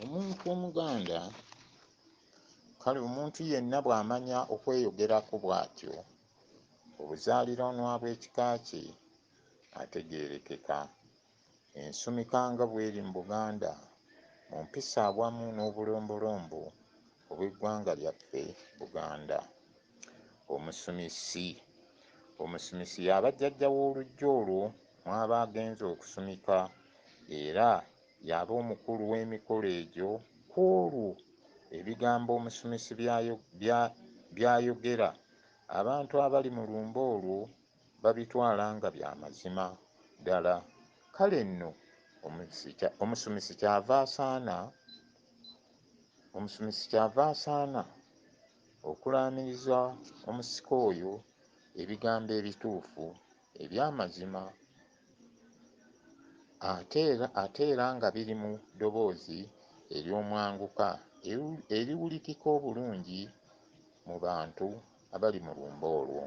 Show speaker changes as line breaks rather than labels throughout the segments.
omuntu omuganda kale omuntu yenna bw'amanya okweyogerako bw'atyo obuzaaliranwa bw'ekika kye ategeerekeka ensumika nga bw'eri mu buganda mu mpisa awamu n'obulombolombo Obw'eggwanga lyaffe Buganda. Omusumisi. Omusumisi y'aba jjajja w'oluggya olwo mw'aba agenze okusumika era y'aba omukulu w'emikolo egyo. Ku olwo, ebigambo omusumisi by'ayogera abantu abali mu lumbe olwo babitwala nga bya mazima ddala. Kale nno, omusumisi ky'ava asaana. Omusumisi ky'ava asaana okulaamiriza omusika oyo ebigambo ebituufu, eby'amazima, ate era, ate era nga biri mu ddoboozi ery'omwanguka eriwulikika obulungi mu bantu abali mu lumbe olwo.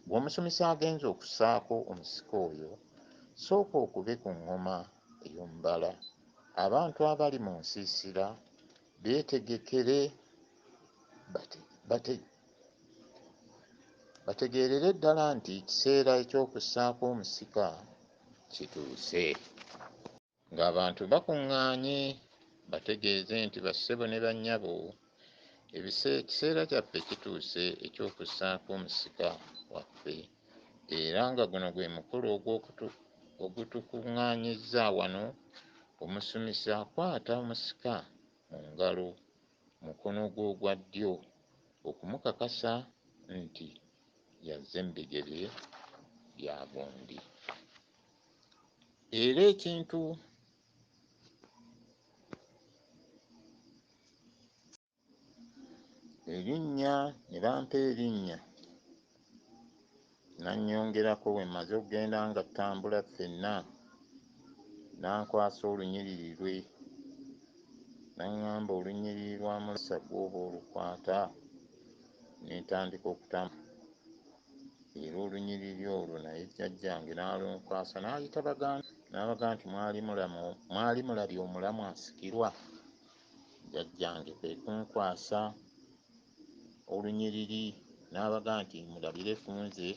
Gw'omusumisi agenze okussaako omusika oyo, sooka okube ku ŋŋoma ey'omubala, abantu abali mu nsiisira beetegekere bategeerere ddala nti ekiseera eky'okussaako omusika kituuse. Ng'abantu bakuŋŋaanye bategeeze nti, Bassebo ne bannyabo, ekiseera kyaffe kituuse eky'okussaako omusika waffe, era nga guno gwe mukolo ogutukuŋŋaanyizza wano, omusumisi akwata omusika mu ngalo, mukono gwe ogwa ddyo, okumukakasa nti y'azze mu bigere bya gundi. era ekintu erinnya ne bampa erinnya nannyongerako bwe mmaze okugenda nga ttambula ffenna n'ankwasa olunyiriri lwe n'aŋŋamba olunyiriri lwa Mulasa gw'oba olukwata ne ntandika okutambula. era olunyiriri olwo naye jjajjange n'alunkwasa n'ayita baganda n'abaga nti mwali mulabye omulamu asikirwa jjajjange kwe kunkwasa olunyiriri n'abaga nti mulabire ku nze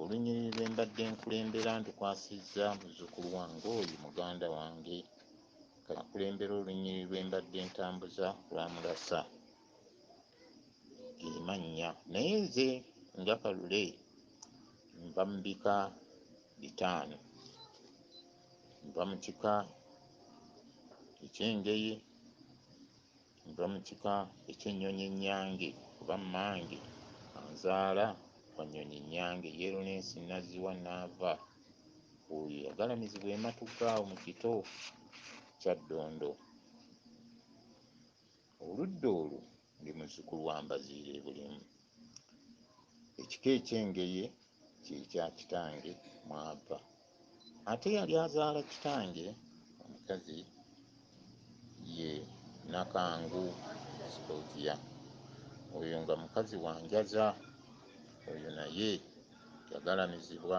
olunyiriri lwe mbadde nkulembera ndukwasizza muzzukulu wange oyo muganda wange kakulembera olunyiriri lwe mbadde ntambuza lwa mulasa emannya naye nze nga kalule nva mu bika bitaano nva mu kika eky'engeye nva mu kika eky'ennyonyi ennyange kuba mmange anzaala wa nnyonyi nnyange yeerunensi nazziwa naava oyo yagalamizibwa ematuga awo mu kito kyaddondo Oludda olwo ndi muzzukulu wa Mbaziira e Bulemu. Ekika eky'Engeye kye kya kitange mw'ava. Ate eyali azaala kitange omukazi ye Nakangu Scovia. Oyo nga mukazi wa njaza. Oyo naye yagalamizibwa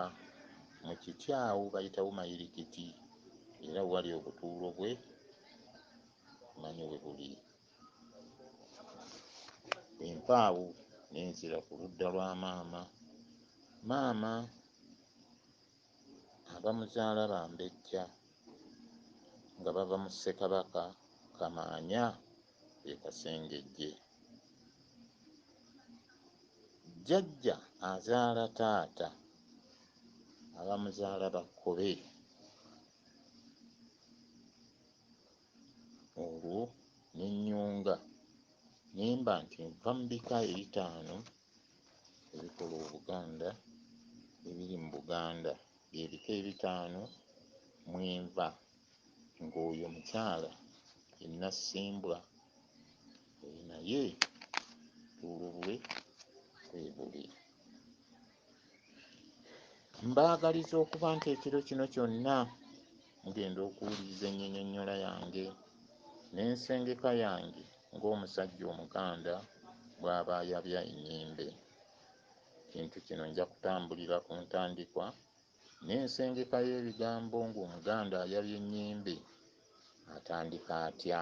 mu kiti awo bayitawo mayirikiti era wali obutuulo bwe manyi we buli bwe mpaawo ne nzira ku ludda lwa maama maama abamuzaala bambejja nga bava mu ssekabaka kamaanya e kasengejje jjajja azaala taata abamuzaala bakkobe olwo ne nnyunga ne mba nti nva mu bika ebitaano ebikola Obuganda ebiri mu Buganda. Bye bika ebitaano mwe nva ng'oyo omukyala ye Nassimbwa oyo naye obutuulo bwe kwe buli. mbaagaliza okuba nti ekiro kino kyonna mugenda okuwuliriza ennyonyonnyola yange n'ensengeka yange ng'omusajja Omuganda bw'aba ayabya ennyimbe. Ekintu kino nja kutambulira ku ntandikwa n'ensengeka y'ebigambo ng'Omuganda ayabya ennyimbe atandika atya.